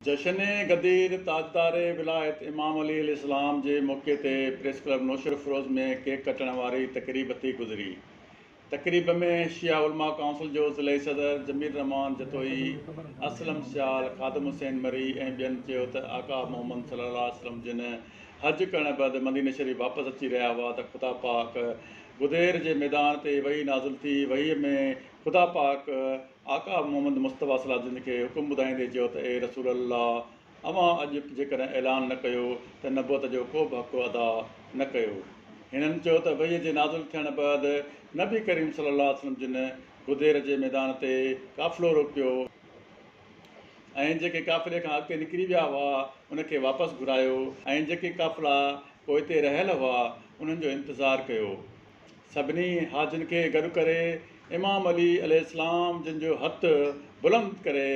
جشن غدير، تاجدار ولايت امام علي عليه السلام جي موقعي تي پريس ڪلب نوشهرفروز ۾ ڪيڪ ڪٽڻ واري تقريب ٿي گذري. تقريب ۾ شيعه علماء ڪائونسل جو ضلعي صدر جميل الرحمان جتوئي، اسلم سيال، خادم حسين مري ۽ ٻين چيو ته آقا محمد صلي الله عليه وسلم جن حج ڪرڻ بعد مدينه شريف واپس اچي رهيا هئا ته خدا پاڪ غدير جي ميدان تي وحي نازل ٿي، وحي ۾ خدا پاڪ. آقا محمد مصطفيٰ صلّي جن کي حڪم ٻڌائيندي چيو ته اي رسول الله! اوهان اڄ جيڪڏهن اعلان نه ڪيو ته نبوت جو ڪو به حق ادا نه ڪيو. هنن چيو ته وحيء جي نازل ٿيڻ بعد نبي ڪريم صلّي الله عليه وسلّم جن غدير جي ميدان تي قافلو روڪيو ۽ جيڪي قافلي کان اڳتي نڪري ويا هئا ان کي واپس گهرايو ۽ جيڪي قافلا پوئتي رهيل هئا انهن جو انتظار ڪيو سڀني حاجين کي گڏ ڪري امام علي عليه السلام جن جو هٿ بلند ڪري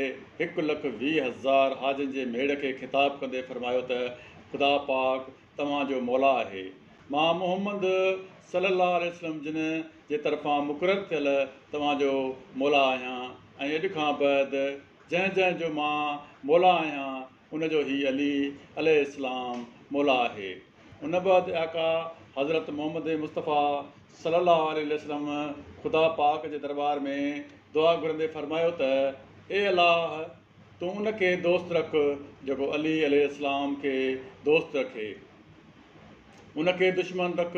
هڪ لک ويهه هزار حاجين جي ميڙ کي خطاب ڪندي فرمايو ته خدا پاڪ توهان جو مولا آهي مان محمد صلي الله عليه وسلم جن جي طرفان مقرر ٿيل توهان جو مولا آهيان ۽ اڄ کان بعد جنهن جنهن جو مان مولا آهيان ان جو هي علي عليه السلام مولا آهي. ان بعد آقا حضرت محمد مصطفيٰ صلّي اللّٰه عليه وسلّم خدا پاڪ جي درٻار ۾ دعا گهرندي فرمايو ته، اي الله! تون ان کي دوست رک جيڪو علي عليه السّلام کي دوست رکي. ان کي دشمن رک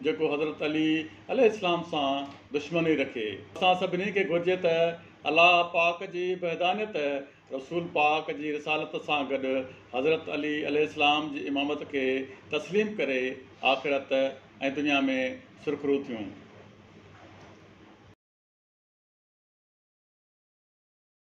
جيڪو حضرت علي عليه السّلام سان دشمني رکي. اسان سڀني کي گهرجي ته الله پاڪ جي وحدانيت رسول پاڪ جي رسالت سان گڏ حضرت علي عليه السلام جي امامت کي تسليم ڪري آخرت ۽ دنيا ۾ سرخرو ٿيون.